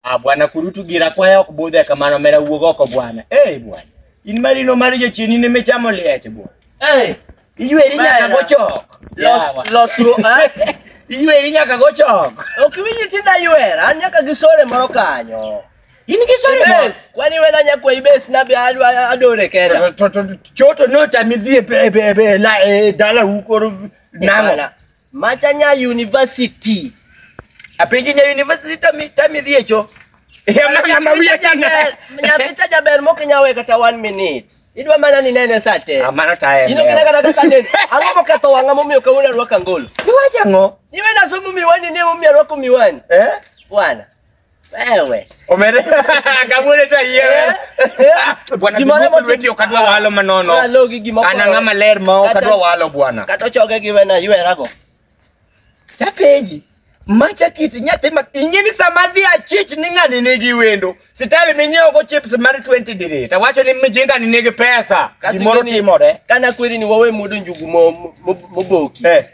Ah, bwana kurutu gira kwaya ok budhe kamano mera wuog oko bwana. Eh bwana. In marino mar jochien in emechamo liech bwana. Eh, Iyweri nyaka Bana. gochok. los Yawa. losruok. eh? Iyweri nyaka gochok. Ok winji tinda ywera, an nyaka gi sore moro kanyo. In gi sori bwana. Ibes, kwani wena nyakwa ibes na be adwa adore kenda. To- to- to- Choto notami dhi e pe- e pe- e pe- la- e dala ukoro nang'o. Ibala. Macha nya university. Apenji nya university tami tami dhiecho. Yamana mawiya chana. Nyathi cha jaber moke nya we kata one minute. Idwa mana ni nene sate. Amana tayo. Ino kina kata kata den. Ang'o moketho wang'a momiyo kawuono arwako angolo? Iwacho ang'o? Iwe nasomo miwani ne momiyo arwako miwani. Eh? Bwana. Wewe. Omere. Kabule ta yie. Bwana Gimoro Gimoro moti- wewe okadwa walo manono. Ora logi gima okoro. Ana ng'ama ler ma Kata- okadwa walo bwana. Kata ochoge gi wena yuerago. Tapenji. Macha kiti nyathi ma ingini sama dhi achich ni ng'ani nigi wendo. Sitali minyiewo go chips mar 20 dire. Tawacho ni mijinga ni nigi pesa. Kasi Gimoro ingeni- timore. Kana kweri ni wawe mudo njugu mo- mo- mo- moboki. Eh.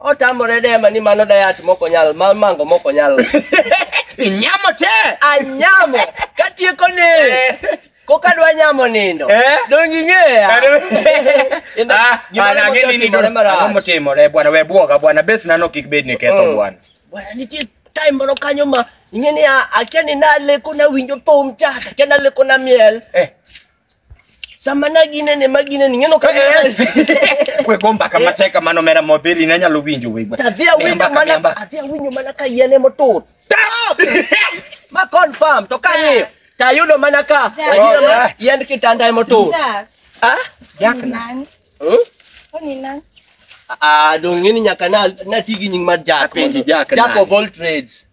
Otamore dema ni mano dayat moko nyal, ma mango moko nyal. Inyamo te. Anyamo katieko ni koka dwa nyamo nindo. Eh? Donge ing'eya? Kendo Ah, gimoro ana ang'e ni mosetimore nindo. Ang'o marach. motimore bwana we bwoga bwana bes nano kik bed ni ketho Mm. bwana. Bwana nitie time moro kanyo ma ing'e ni a- akia ni naleko nawinjo thum cha, akia naleko na miel. Eh. Sama na ginene ma ginene ng'eno ka we go mbaka matek kamano mera modhiri ne nyalo winjo we Adhi awinjo Miamba, mana miamba. adhi awinjo mana ka yien ema otur. Ma confirm to ka ni to ayudo mana ka Ja. ayudo mana Ja. yiend kitanda ema otur. Jack, Ah? Jack ni na. nani? Huh? Huyu ni nani? Ah, dong ngini nyaka na na tigi nying mar Jack. Apenji Jack Jack nani? of all trades.